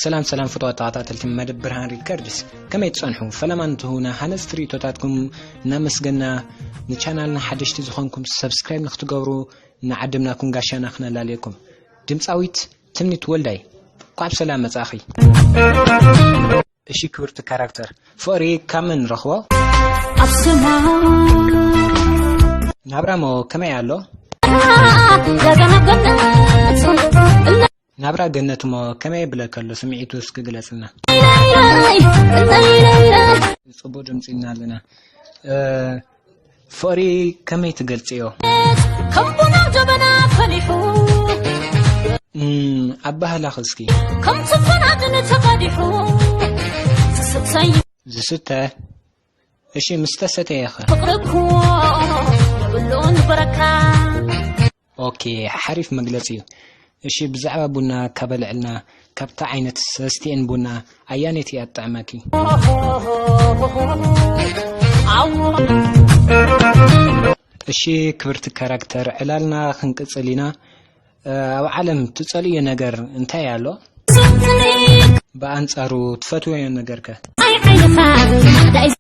ሰላም ሰላም ፍትዋት ተኸታተልቲ መደብ ብርሃን ሪከርድስ ከመይ ትጸንሑ ፈለማ እንትህውና ሃነፅቲ ርእቶታትኩም እናመስገና ንቻናልና ሓደሽቲ ዝኾንኩም ሰብስክራይብ ንክትገብሩ ንዓደምናኩም ጋሻና ክነላለየኩም ድምፃዊት ትምኒት ወልዳይ ኳብ ሰላም መጻኺ እሺ ክብርቲ ካራክተር ፍቅሪ ካብ መን ንረክቦ። ኣብ ሰማይ ናብራሞ ከመይ ኣሎ ዳጋ ናብ ገነት ናብራ ገነት እሞ ከመይ የብለከሎ ስምዒቱ እስኪ ግለጽልና ኢለይለይ ኢለይለይ ጽቡቅ ድምጺ እና ኣለና እ፣ ፍቕሪ ከመይ ትገልጽዮ? ከም ቡናው ደበና ፈሊሑ እም ኣባህላኺ እስኪ ከም ትፈናድን ተቐዲሑ ዝስተይ ዝስተ እሺ ምስ ተሰተየኸ? ፍቕሪ እኮ የብሉን በረካ ኦኬ ሓሪፍ መግለጺ እዩ እሺ ብዛዕባ ቡና ካበልዕልና ካብታ ዓይነት ሰስቲኤን ቡና ኣያኔት እያ ትጥዕመኪ። እሺ ክብርቲ ካራክተር ዕላልና ክንቅጽል ኢና ኣብ ዓለም ትጸልዮ ነገር እንታይ ኣሎ ብኣንጻሩ ትፈትወዮ ነገርከ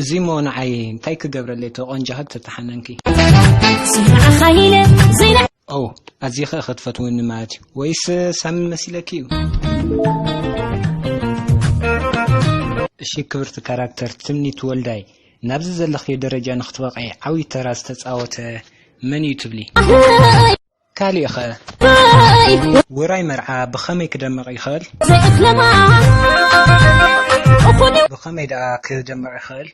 እዚሞ ንዓይ እንታይ ክገብረለይ እቶ ቆንጆ ሃብቲ ተሓነንኪ። ኦው ኣዚኸ ክትፈትውኒ ማለት እዩ ወይስ ሳሚ መሲለኪ እዩ? እሺ ክብርቲ ካራክተር ትምኒት ወልዳይ ናብዚ ዘለኽዮ ደረጃ ንክትበቕዒ ዓብይ ተራ ዝተፃወተ መን እዩ ትብሊ? ካሊእኸ ውራይ መርዓ ብኸመይ ክደምቕ ይኽእል? ብኸመይ ደኣ ክደምቕ ይኽእል?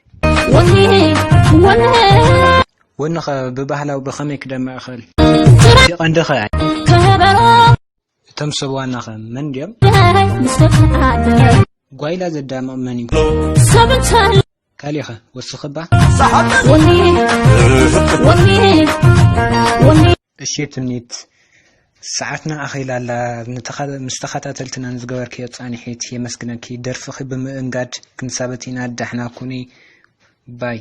ወኒኸ ብባህላዊ ብኸመይ ክደምቕ ይኽእል? እቲ ቀንዲኸ እቶም ሰብ ዋናኸ መን ድዮም? ጓይላ ዘዳምቕ መንዩ? ካልእ ከ ወስኽባ እሺ ትምኒት ሰዓትና ኣኺላ ኣላ ምስ ተኸታተልትና ንዝገበርክዮ ጻንሒት የመስግነኪ ደርፍኺ ብምእንጋድ ክንሳበት ኢና ዳሕና ኩኒ ባይ